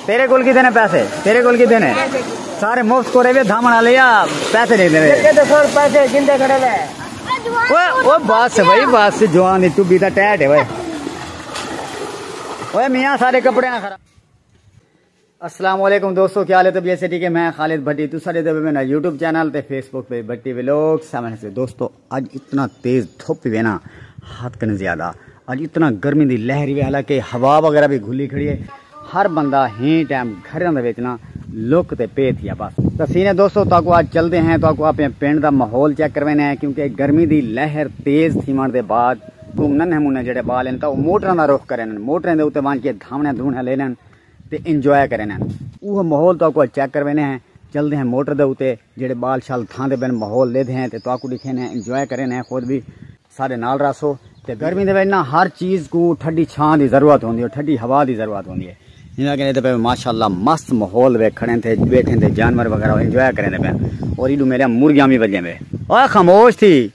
تیرے کول کیتے نے پیسے تیرے کول کیتے نے سارے مفت کرے وی دھامن والے یا پیسے نہیں دینے تے تے سر پیسے گندے کھڑے وے اوے او بس بھائی بس جوان دی ٹبی دا ٹیٹ ہے اوے اوے میاں سارے کپڑے نہ خراب السلام علیکم دوستو کیا حالت ہے بی ایس ٹی کے میں خالد بھٹی تو سارے دے میں یوٹیوب چینل تے فیس بک پہ بھٹی ویلوگ سامنے سے دوستو اڄ اتنا تیز دھپ وی وینا حد کن زیادہ اج اتنا گرمی دی لہر وی حالانکہ ہوا وغیرہ بھی گھلی کھڑی ہے ہر بندہ ہی ٹائم گھر دے وچ نا لک تے پے تھیا بس تسینے دوستو تاکو اج چل دے ہیں تاکو اپنے پنڈ دا ماحول چیک کروانے ہیں کیونکہ گرمی دی لہر تیز تھیون دے بعد تو ننہ مونہ جڑے بال ہیں تو موٹراں دا رخ کرن موٹراں دے اوتے وان کے دھاونے دھونے لینن تے انجوائے کرین ہن۔ اوہ ماحول تہاکوں اچ چیک کرویندے ہیں، چلدے ہیں موٹر دے اتے جیہڑے بال شال تھاندے پن ماحول لیدھے ہیں تے تہاکوں ڈیکھیندے ہیں انجوائے کریندے ہیں خود وی ساڈے نال رہسو تے گرمی دے وچ نا ہر چیز کوں ٹھڈی چھاں دی ضرورت ہوندی ہے ٹھڈی ہوا دی ضرورت ہوندی ہے جیویں کہندے پئے ماشاءاللہ مست ماحول ویکھ کھڑے تھے ویکھیں تے جانور وغیرہ انجوائے کریندے پن اور ایڈو میرے مرغیاں وی بجیں پے اوئے خاموش تھی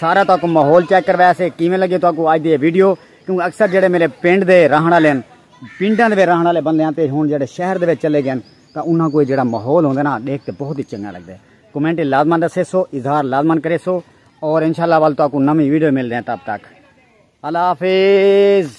سارا تو کو ماحول چیک کروایا سے کیویں لگے تو کو آج دی ویڈیو کیونکہ اکثر جڑے میرے پنڈ دے رہن والے ہیں پنڈاں دے رہن والے بندے ہیں تے ہن جڑے شہر دے چلے گئے تا انہاں کو جڑا ماحول ہوندا نا دیکھ تے بہت ہی چنگا لگدا ہے کمنٹ لازمان دسے سو اظہار لازمان کرے سو اور انشاءاللہ وال تو کو نویں ویڈیو مل رہے ہیں تب تک اللہ حافظ